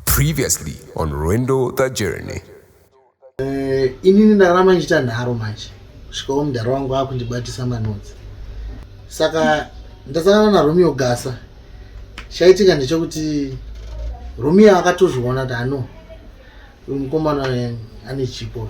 Previously on Rwendo the Journey. Eh, inini ndarama ndichiita nharo manje svikawo mudhara wangu akundibatisa manodzi saka ndasangana naromeo gasa chaitika ndechekuti romeo akatozviona kuti ano uyu mukomana ane chipo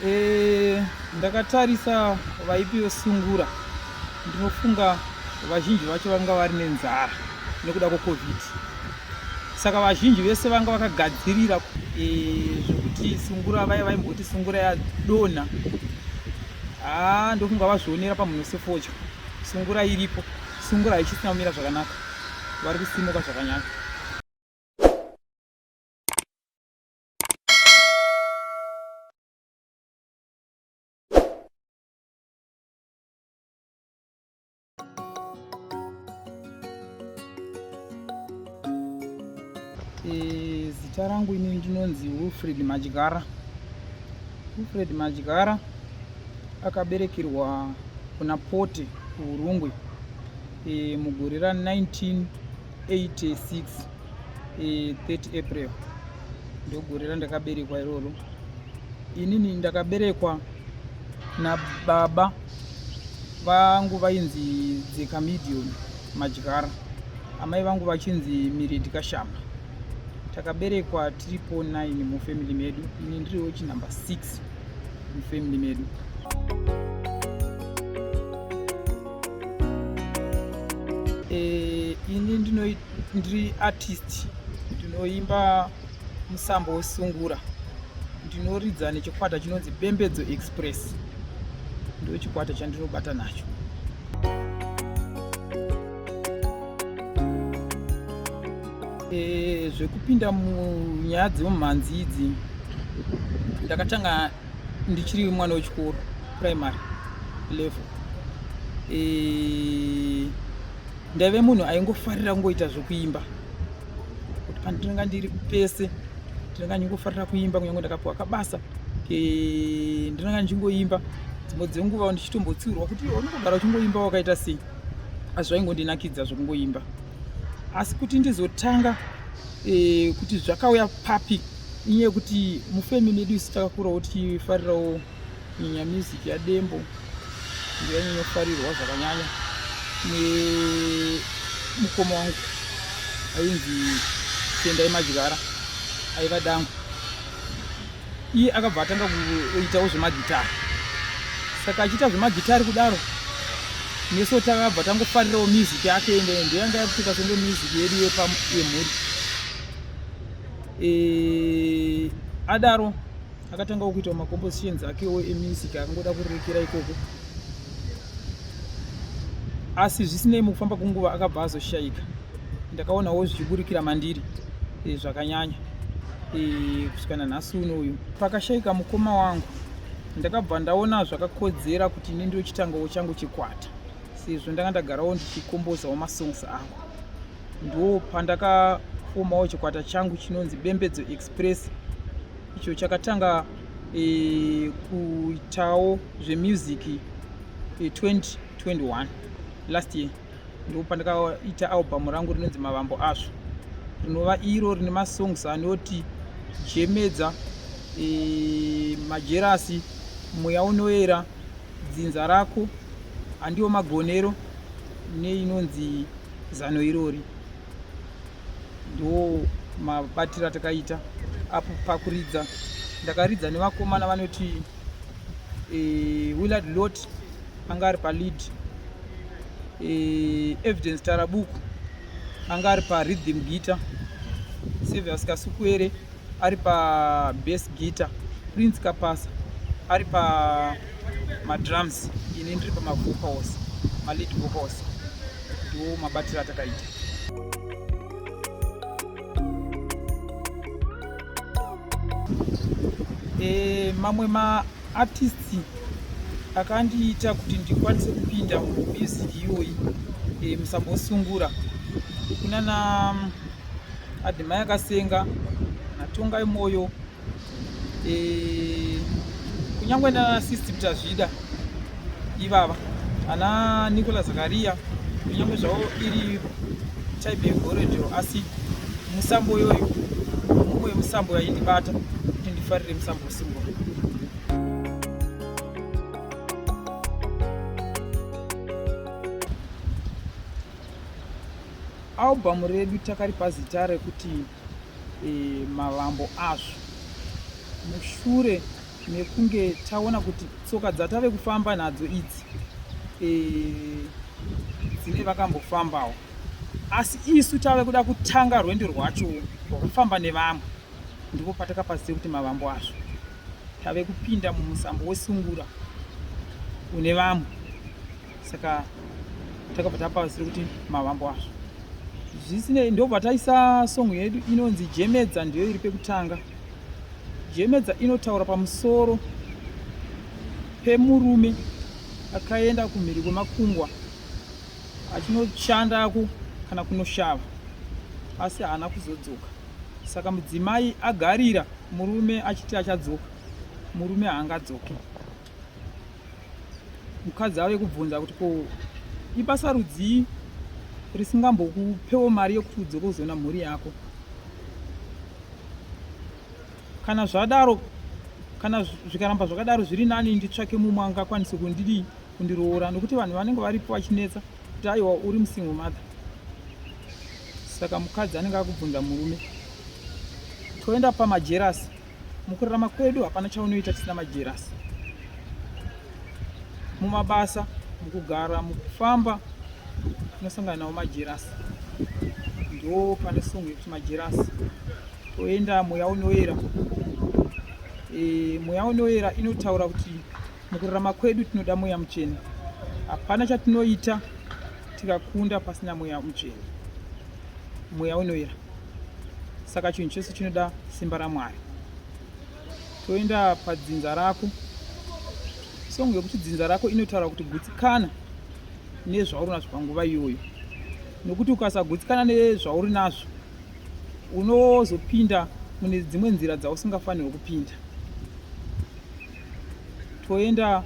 Eh, ndakatarisa vaipi vesungura ndinofunga vazhinji vacho vanga vari nenzara nekuda kwecovid saka vazhinji vese vanga vakagadzirira eh, zvekuti sungura vaya vaimboti sungura yadonha haa ah, ndofunga vazvionera pamhunhu sefodya sungura iripo Sungura haichisina kumira zvakanaka, vari kusimuka zvakanyanya. Eh, zita rangu ini ndinonzi Wilfred Madyara. Wilfred Madyara akaberekerwa kuna Pote kuHurungwe eh, mugore ra 1986 30 eh, April ndogore randakaberekwa iroro. Inini ndakaberekwa nababa vangu vainzi dzeka medium madyara amai vangu vachinzi miredi kashamba takaberekwa tiri po 9 mufamily medu ini ndiri wechinumber 6 mufamily medu e, ini ndiri artist ndinoimba musambo wesungura ndinoridza nechikwata chinonzi bembedzo express ndo chikwata chandinobata nacho e, zvekupinda munyaya dzemumhanzi idzi ndakatanga ndichiri mwana wechikoro primary level e, ndaive munhu aingofarira kungoita zvekuimba kuti pandinonga ndiri pese ndinonga ndingofarira kuimba kunyange ndakapiwa kabasa eh, ndinonga ndichingoimba dzimwe dzenguva ndichitombotsiurwa kuti unongogara uchingoimba wakaita sei asi zvaingondinakidza zvekungoimba asi kuti ndizotanga e, kuti zvakauya papi inyaya yekuti mufemi medu isu takakurawo tichifarirawo Nyanya music ya Dembo ndiyo inofarirwa zvakanyanya nemukoma wangu ainzi Tendai Majigara aiva dangu. Iye akabva atanga kuitawo zvemagitari. Saka achiita zvemagitari kudaro nesu takabva tangofarirawo music yake ende ndiyo yanga yakutika senge music yedu yemhuri. E, adaro akatanga kuitawo macompositions akewo emusic akangoda kurerekera ikoko asi zvisinei mukufamba kwenguva akabva azoshayika ndakaonawo zvichiburikira mandiri e, zvakanyanya e, kusvika nanhasi uno uyu pakashayika mukoma wangu ndakabva ndaona zvakakodzera kuti ini ndochitangawo changu chikwata sezvo ndanga ndagarawo ndichikombozawo masongs angu ndo pandakafomawo chikwata changu chinonzi bembedzo express icho chakatanga e, kuitawo zvemusic e, 2021 last year ndipo pandakaita albhamu rangu rinonzi mavambo azvo rinova iro rine masongs anoti jemedza e, majerasi mweya unoera dzinza rako handiwo magonero neinonzi zano irori ndo mabatiro atakaita apo pakuridza ndakaridza nevakomana vanoti e, willard lot anga ari palead e, evidence tarabuku anga ari pariddim guitar sevias kasukuere ari pabase guitar prince kapasa ari pa madrums ini ndiri pamavocals malead vocals ndiwo mabatiro atakaita e, mamwe maartisti akandiita kuti ndikwanise kupinda mumusiki iyoyi e, eh, musambosungura kunana mm, adhimai akasenga natongai mwoyo eh, kunyangwe nana system tazvida ivava ana nicola zakaria kunyangwe zvavo iri type yegorejo asi musambo yoyo mumwe musambo yaindibata kuti ndifarire musambo usimbo albhamu redu takaripa zita rekuti eh, mavambo azvo mushure mekunge taona kuti tsoka dzatave kufamba nadzo idzi eh, dzine vakambofambawo asi isu tave kuda kutanga rwendo rwacho rwekufamba nevamwe ndipo patakapazise kuti mavambo azvo tave kupinda mumusambo wesungura une vamwe saka takabva tapausira kuti mavambo azvo zvisinei ndobva taisa song yedu inonzi jemedza ndiyo iri pekutanga jemedza inotaura pamusoro pemurume akaenda kumhiri kwemakungwa achinoshandako kana kunoshava asi haana kuzodzoka saka mudzimai agarira murume achiti achadzoka murume haangadzoke mukadzi ave kubvunza kuti ko ibasa rudzii risingambokupewo mari yekuti udzoke kuzoona mhuri yako kana zvadaro kana zvikaramba zvakadaro zviri nani nditsvake mumwe angakwanise kundidii kundiroora nokuti vanhu vanenge varipo vachinetsa kuti aiwa uri musingle mother saka mukadzi anenge akubvunza murume toenda pamajerasi Mukurarama kwedu hapana chaunoita tisina majerasi. Mumabasa, mukugara, mukufamba tinosangana nawo majerasi. Ndo pane song yekuti majerasi. Toenda mweya unoyera. E, mweya unoyera inotaura kuti mukurarama kwedu tinoda mweya muchena. Hapana chatinoita tikakunda pasina mweya muchena. mweya unoyera saka chinhu chose chinoda simba ramwari toenda padzinza rako songo yekuti dzinza rako inotaura kuti gutsikana nezvauri nazvo panguva iyoyo nokuti ukasagutsikana nezvauri nazvo unozopinda mune dzimwe nzira dzausingafanirwe kupinda toenda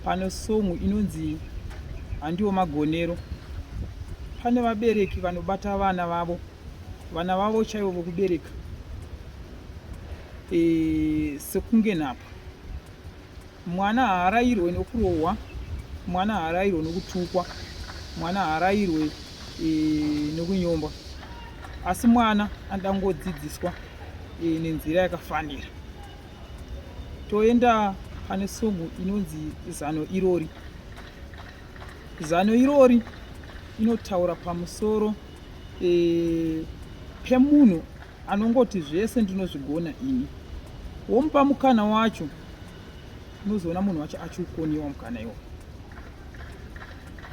pano song inonzi handiwo magonero pane vabereki vanobata vana vavo vana vavo chaivo vokubereka e, sekunge nhapa mwana haarayirwe nokurohwa mwana haarayirwe nokutukwa mwana haarayirwe e, nokunyomba asi mwana anoda kungodzidziswa e, nenzira yakafanira toenda pane songo inonzi zano irori zano irori inotaura pamusoro e, pemunhu anongoti zvese ndinozvigona ini womupa mukana wacho unozoona munhu wacho achiukoniwa mukana iwo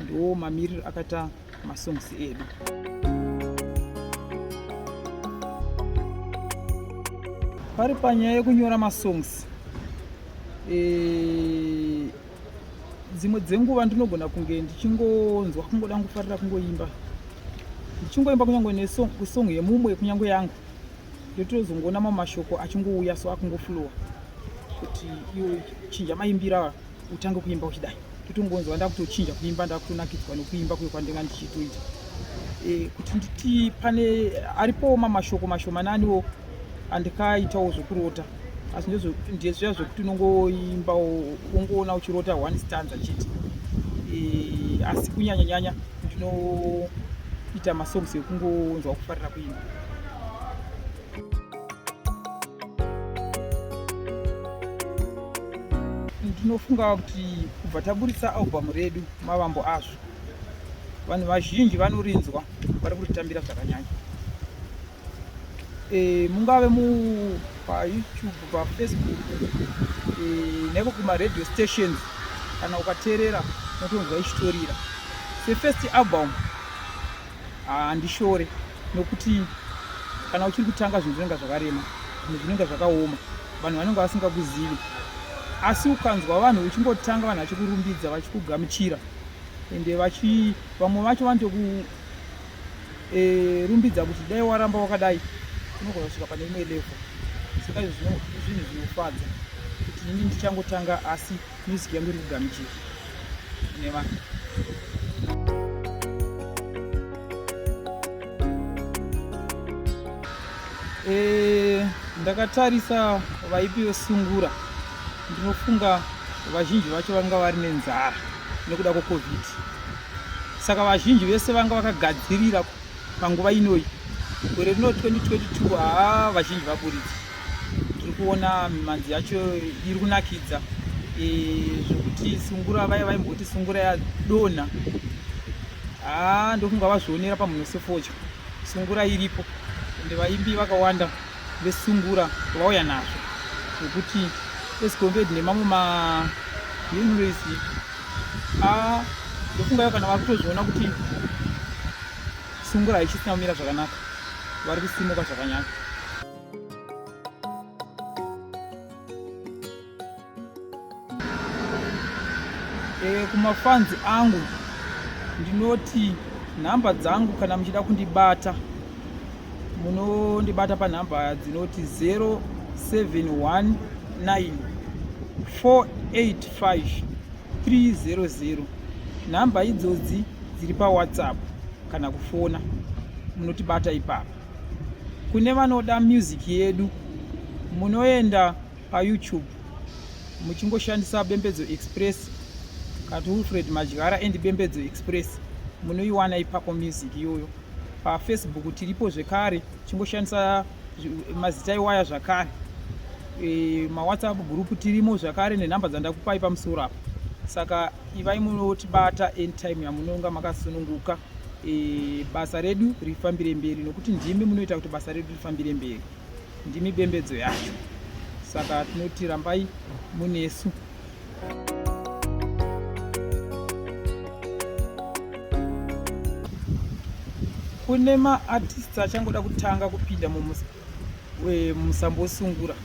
ndo mamiriro akaita masongs edu pari panyaya yekunyora masongs eh, dzimwe dzenguva ndinogona kunge ndichingonzwa kungoda kufarira kungoimba ndichingoimba kunyange nesong yemumwe kunyange yangu ndotozongoona mamashoko achingouya so akungoflowa kuti iwe chinja maimbira utange kuimba uchidai totongonzwa ndakutochinja kuimba ndakutonakidzwa nokuimba kuyo kwandinga ndichitoita e, kuti nditi pane aripowo mamashoko mashomananiwo andikaitawo zvokurota asi ndezviya zvekuti unongoimbawo ungoona uchirota one stanza chete e, asi kunyanya nyanya ndinoita masongs ekungonzwa kufarira kuimba Ndinofunga kuti kubva taburitsa album redu mavambo azvo vanhu vazhinji vanorinzwa vari kuritambira zvakanyanya e, mungave mu payoutube pafacebook e, neko kumaradio stations kana ukateerera unotonzwa ichitorira sefirst album handishore nokuti kana uchiri kutanga zvinhu zvinenge zvakarema zvinhu zvinenge zvakaoma vanhu vanenge vasingakuzivi asi ukanzwa vanhu uchingotanga vanhu vachikurumbidza vachikugamuchira ende vachi vamwe vacho vanotokurumbidza e, kuti dai waramba wakadai unogona kusvika pane imwe levo saka izvi zvinhu zvinofadza kuti ini ndichangotanga asi Music yangu iri kugamuchira kune vanhu. Eh, ndakatarisa vaipi vesungura ndinofunga vazhinji vacho vanga vari nenzara nekuda kwecovid saka vazhinji vese vanga vakagadzirira panguva inoyi gore rino 2022 haa vazhinji vaburitsa tiri kuona mimanzi yacho iri kunakidza eh, zvekuti sungura vaya vaimboti sungura yadonha haa ah, ndokunga vazvionera pamunhu sefodya sungura iripo ende vaimbi vakawanda vesungura vauya nazvo zvekuti esicombed nemamwe maunivesi haa ah, ndofungayo kana vakutozviona kuti sungura haichisina kumira zvakanaka vari kusimuka zvakanyaka Eh, kumafanzi angu ndinoti nhamba dzangu kana muchida kundibata munondibata panhamba dzinoti 0719 485 300 nhamba idzodzi dziri pawhatsapp kana kufona munotibata ipapa kune vanoda music yedu munoenda payoutube muchingoshandisa bembedzo express kati wilfred madyara and bembedzo express munoiwana ipapo music iyoyo pafacebook tiripo zvekare chingoshandisa mazita iwaya zvakare e, mawhatsapp group tirimo zvakare nenhamba dzandakupai pamusoro apo saka ivai munotibata anytime yamunonga makasununguka e, basa redu rifambire mberi nokuti ndimi munoita kuti basa redu rifambire mberi ndimi bembedzo yacho saka tinoti rambai munesu kune maartists achangoda kutanga kupinda musambosungura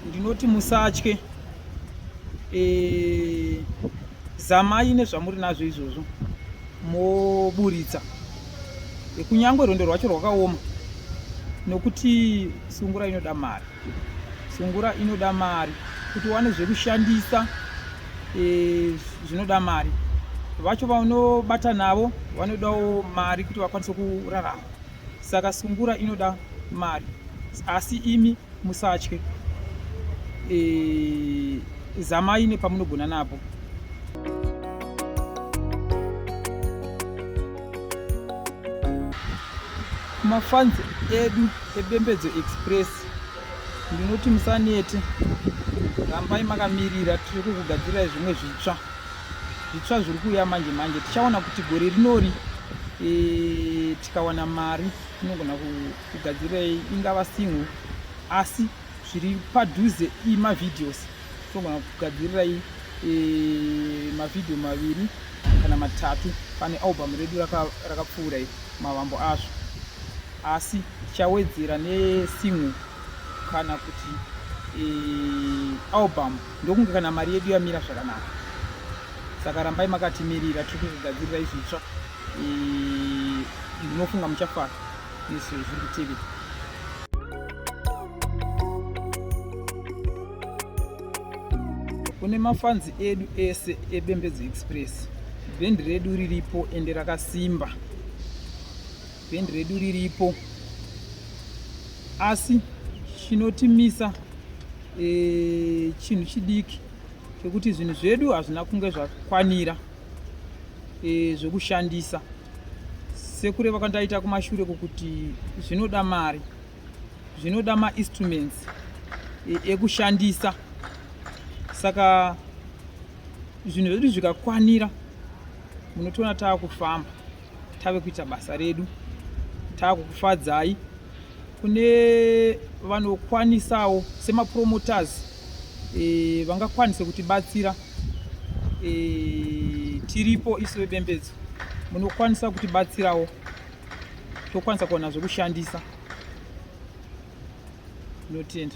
ndinoti musatye e, zamai nezvamuri nazvo izvozvo moburitsa e, kunyange rwendo rwacho rwakaoma nokuti sungura inoda mari sungura inoda mari kuti wane zvekushandisa e, zvinoda mari vacho vanobata navo vanodawo mari kuti vakwanise kurarama saka sungura inoda mari asi imi musatye e, zamai nepamunogona napo mafanzi edu ebembedzo express ndinoti musanete rambai makamirira tiri kukugadzirirai zvimwe zvitsva zvitsva zviri kuuya manje manje tichaona kuti gore rinori e, Tikawana mari inogona kugadzirei ingava single asi zviri padhuze imavideos tinogona kugadzirirai e, mavhidhiyo maviri kana matatu pane album redu rakapfuura raka mavambo azvo asi tichawedzera nesingle kana kuti e, album ndokunge kana mari yedu yamira zvakanaka saka rambai makatimirira tiri kugadzirira izvitsva ndinofunga muchafara nezviri kutivi kune mafanzi edu ese ebembedzo express bhendi redu riripo ende rakasimba bhendi redu riripo asi chinotimisa e, chinhu chidiki chekuti zvinhu zvedu hazvina kunge zvakwanira e, zvekushandisa sekureva kwandaita kumashure kukuti zvinoda mari zvinoda mainstruments e, ekushandisa saka zvinhu zvedu zvikakwanira munotoona taakufamba tave kuita basa redu tava kukufadzai kune vanokwanisawo semapromoters e, vangakwanise kutibatsira e, tiripo isu vebembedzo munokwanisa kutibatsirawo tokwanisa kuwana zvekushandisa notenda